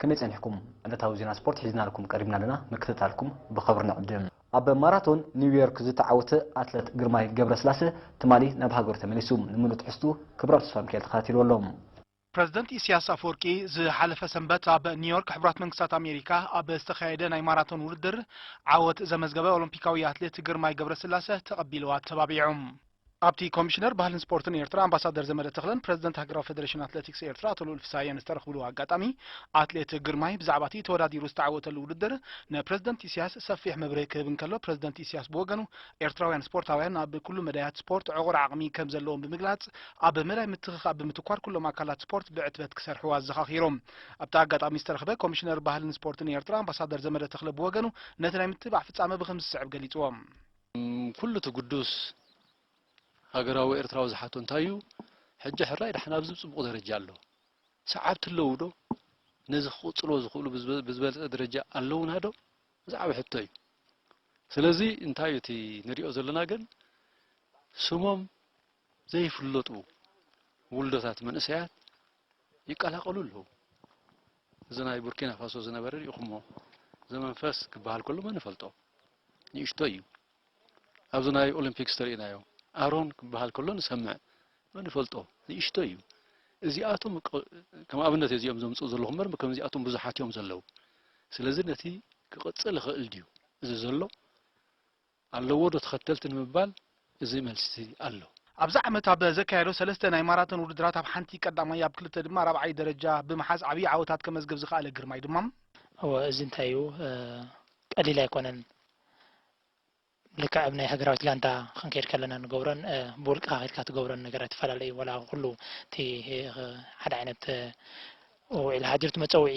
ከመይ ጸኒሕኩም? ዕለታዊ ዜና ስፖርት ሒዝናልኩም ቀሪብና ኣለና፣ ምክትታልኩም ብኸብሪ ንዕድም። ኣብ ማራቶን ኒውዮርክ ዝተዓወተ ኣትለት ግርማይ ገብረስላሰ ትማሊ ናብ ሃገሩ ተመሊሱ። ንምሉእ ትሕዝትኡ ክብሮም ተስፋሚካኤል ተኸታቲልዎ ኣሎ። ፕረዚደንት ኢሲያስ ኣፍወርቂ ዝሓለፈ ሰንበት ኣብ ኒውዮርክ ሕቡራት መንግስታት ኣሜሪካ ኣብ ዝተኻየደ ናይ ማራቶን ውድድር ዓወት ዘመዝገበ ኦሎምፒካዊ ኣትሌት ግርማይ ገብረስላሰ ተቐቢሉ ኣተባቢዑ። ኣብቲ ኮሚሽነር ባህልን ስፖርትን ኤርትራ ኣምባሳደር ዘመደ ተኽለን ፕረዚደንት ሃገራዊ ፈደረሽን ኣትለቲክስ ኤርትራ ኣቶ ልኡል ፍስሃየን ዝተረኽብሉ ኣጋጣሚ ኣትሌት ግርማይ ብዛዕባቲ ተወዳዲሩ ዝተዓወተሉ ውድድር ንፕረዚደንት ኢሲያስ ሰፊሕ መብርሂ ክህብ እንከሎ ፕረዚደንት ኢሲያስ ብወገኑ ኤርትራውያን ስፖርታውያን ኣብ ኩሉ መዳያት ስፖርት ዕቑር ዓቕሚ ከምዘለዎም ብምግላጽ ኣብ መዳይ ምትኽኻእ ብምትኳር ኩሎም ኣካላት ስፖርት ብዕትበት ክሰርሑ ኣዘኻኺሩ። ኣብቲ ኣጋጣሚ ዝተረኽበ ኮሚሽነር ባህልን ስፖርትን ኤርትራ ኣምባሳደር ዘመደ ተኽለ ብወገኑ ነቲ ናይ ምትብባዕ ፍጻመ ብከምዚ ዝስዕብ ገሊጽዎ። ኩሉ እቲ ግዱስ ሃገራዊ ኤርትራዊ ዝሓቶ እንታይ እዩ፣ ሕጂ ሕራይ ደሓን ኣብዚ ጽቡቕ ደረጃ ኣሎ፣ ሰዓብቲ ኣለዉዶ፣ ነዚ ክቕጽልዎ ዝኽእሉ ብዝበልጸ ደረጃ ኣለዉናዶ ዝዓበየ ሕቶ እዩ። ስለዚ እንታይ እዩ እቲ ንሪኦ ዘለና ግን ስሞም ዘይፍለጡ ውልዶታት መንእሰያት ይቀላቀሉ ኣለዉ። እዚ ናይ ቡርኪና ፋሶ ዝነበረ ሪኢኹሞ ዘመንፈስ ክበሃል ከሎ መን ይፈልጦ ንእሽቶይ እዩ ኣብዚ ናይ ኦሎምፒክስ ተሪኢናዮ ኣሮን ክበሃል ከሎ ንሰምዕ መን ይፈልጦ ንእሽቶይ እዩ እዚኣቶም ከም ኣብነት እዚኦም ዘምፅኡ ዘለኹ ምበር ከምዚኣቶም ብዙሓት እዮም ዘለዉ ስለዚ ነቲ ክቕፅል ይኽእል ድዩ እዚ ዘሎ ኣለዎ ዶ ተኸተልቲ ንምባል እዚ መልሲ ኣሎ። ኣብዚ ዓመት ኣብ ዘካየዶ ሰለስተ ናይ ማራቶን ውድድራት ኣብ ሓንቲ ቀዳማይ ኣብ ክልተ ድማ ራብዓይ ደረጃ ብምሓዝ ዓብዪ ዓወታት ከመዝግብ ዝኸኣለ ግርማይ ድማ፣ እወ እዚ እንታይ እዩ ቀሊል ኣይኮነን ልክዕ ኣብ ናይ ሃገራዊት ጋንታ ክንከይድ ከለና ንገብሮን ብውልቅኻ ከይድካ ትገብሮን ነገራት ይፈላለ እዩ ዋላ ኩሉ እቲ ሓደ ዓይነት ዊዒል ሃዲር እቲ መጸውዒ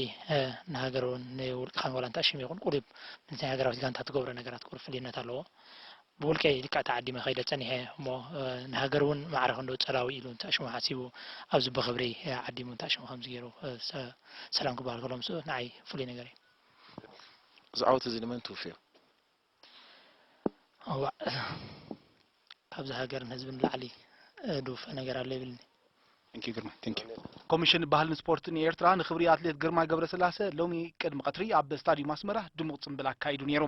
ንሃገር እውን ንውልቅኻን ዋላ እንተኣሽም ይኹን ቁሩብ ምስ ናይ ሃገራዊት ጋንታ ትገብሮ ነገራት ቁሩብ ፍልዩነት ኣለዎ። ብውልቀይ ልክዕ ተዓዲመ ከይደ ጸኒሐ እሞ ንሃገር እውን ማዕረ ክንደኡ ጸላዊ ኢሉ እንተኣሽሙ ሓሲቡ ኣብዚ ብኽብሪ ዓዲሙ እንተኣሽሙ ከምዚ ገይሩ ሰላም ክበሃል ከሎ ምስኡ ንዓይ ፍሉይ ነገር እዩ። እዚ ዓወት እዚ ንመን ትውፍዮ? እዋእ ካብዚ ሃገርን ህዝብን ንላዕሊ ድውፈ ነገር ኣሎ ይብልኒ። ኮሚሽን ባህልን ስፖርትን ኤርትራ ንክብሪ ኣትሌት ግርማይ ገብረስላሰ ሎሚ ቅድሚ ቀትሪ ኣብ ስታድዩም ኣስመራ ድሙቕ ጽምብል ኣካይዱ ነይሩ።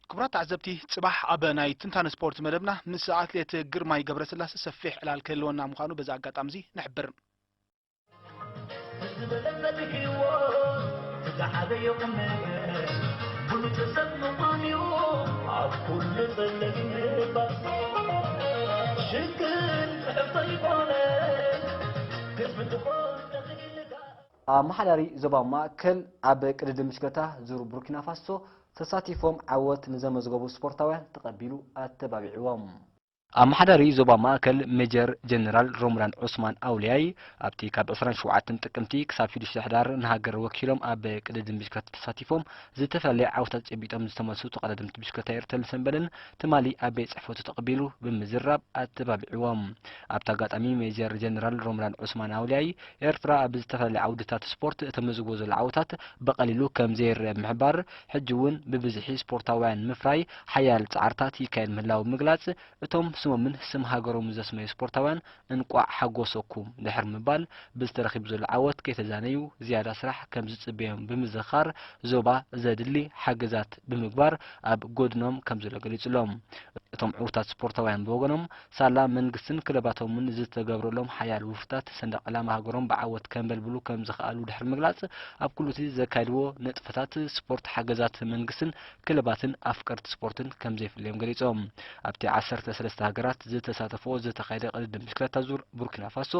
ክቡራት ተዓዘብቲ ጽባሕ ኣብ ናይ ትንታነ ስፖርት መደብና ምስ ኣትሌት ግርማይ ገብረስላሰ ሰፊሕ ዕላል ክህልወና ምዃኑ በዚ ኣጋጣሚ እዚ ንሕብር። ኣመሓዳሪ ዞባ ማእከል ኣብ ቅድድም ብሽክለታ ዙር ቡርኪናፋሶ ተሳቲፎም ዓወት ንዘመዝገቡ ስፖርታውያን ተቐቢሉ ኣተባቢዕዎም። ኣመሓዳሪ ዞባ ማእከል ሜጀር ጀነራል ሮምዳን ዑስማን ኣውልያይ፣ ኣብቲ ካብ ዕስራን ሸውዓተን ጥቅምቲ ክሳብ ሽዱሽተ ሕዳር ንሃገር ወኪሎም ኣብ ቅድድም ብሽክለታ ተሳቲፎም ዝተፈላለየ ዓወታት ጨቢጦም ዝተመልሱ ተቐዳደምቲ ብሽክለታ ኤርትልን ሰንበልን ትማሊ ኣብ ቤት ጽሕፈቱ ተቐቢሉ ብምዝራብ ኣተባቢዕዎም። ኣብቲ ኣጋጣሚ ሜጀር ጀነራል ሮምዳን ዑስማን ኣውልያይ፣ ኤርትራ ኣብ ዝተፈላለየ ዓውድታት ስፖርት እተመዝግቦ ዘሎ ዓወታት ብቐሊሉ ከምዘይርኣ ብምሕባር፣ ሕጂ እውን ብብዝሒ ስፖርታውያን ንምፍራይ ሓያል ጻዕርታት ይካየድ ምህላዉ ብምግላጽ፣ እቶም ስሞምን ስም ሃገሮምን ዘስመዩ ስፖርታውያን እንቋዕ ሓጎሰኩም ድሕሪ ምባል፣ በዚ ተረኺቡ ዘሎ ዓወት ከይተዛነዩ ዝያዳ ስራሕ ከምዝጽበዮም ብምዝኽኻር፣ ዞባ ዘድሊ ሓገዛት ብምግባር ኣብ ጎድኖም ከምዘሎ ገሊጹሎም። እቶም ዕውታት ስፖርታውያን ብወገኖም፣ ሳላ መንግስትን ክለባቶምን ዝተገብረሎም ሓያል ውፍታት ሰንደቕ ዕላማ ሃገሮም ብዓወት ከንበልብሉ ከም ዝኸኣሉ ድሕሪ ምግላጽ፣ ኣብ ኩሉ'ቲ ዘካይድዎ ንጥፈታት ስፖርት ሓገዛት መንግስትን ክለባትን ኣፍቀርቲ ስፖርትን ከም ዘይፍለዮም ገሊጾም። ኣብቲ ዓሰርተ ሰለስተ ሃገራት ዝተሳተፍኦ ዝተኻየደ ቅድድም ብሽክለታ ዙር ቡርኪናፋሶ፣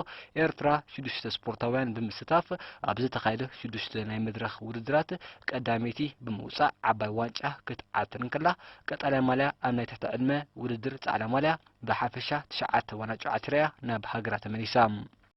ኤርትራ ሽዱሽተ ስፖርታውያን ብምስታፍ ኣብ ዝተኻየደ ሽዱሽተ ናይ መድረኽ ውድድራት ቀዳመይቲ ብምውጻእ ዓባይ ዋንጫ ክትዓትር እንከላ፣ ቀጠልያ ማልያ ኣብ ናይ ትሕቲ ዕድመ ውድድር ጻዕዳ ማልያ ብሓፈሻ ትሽዓተ ዋናጩ ዓቲራ'ያ ናብ ሃገራ ተመሊሳ።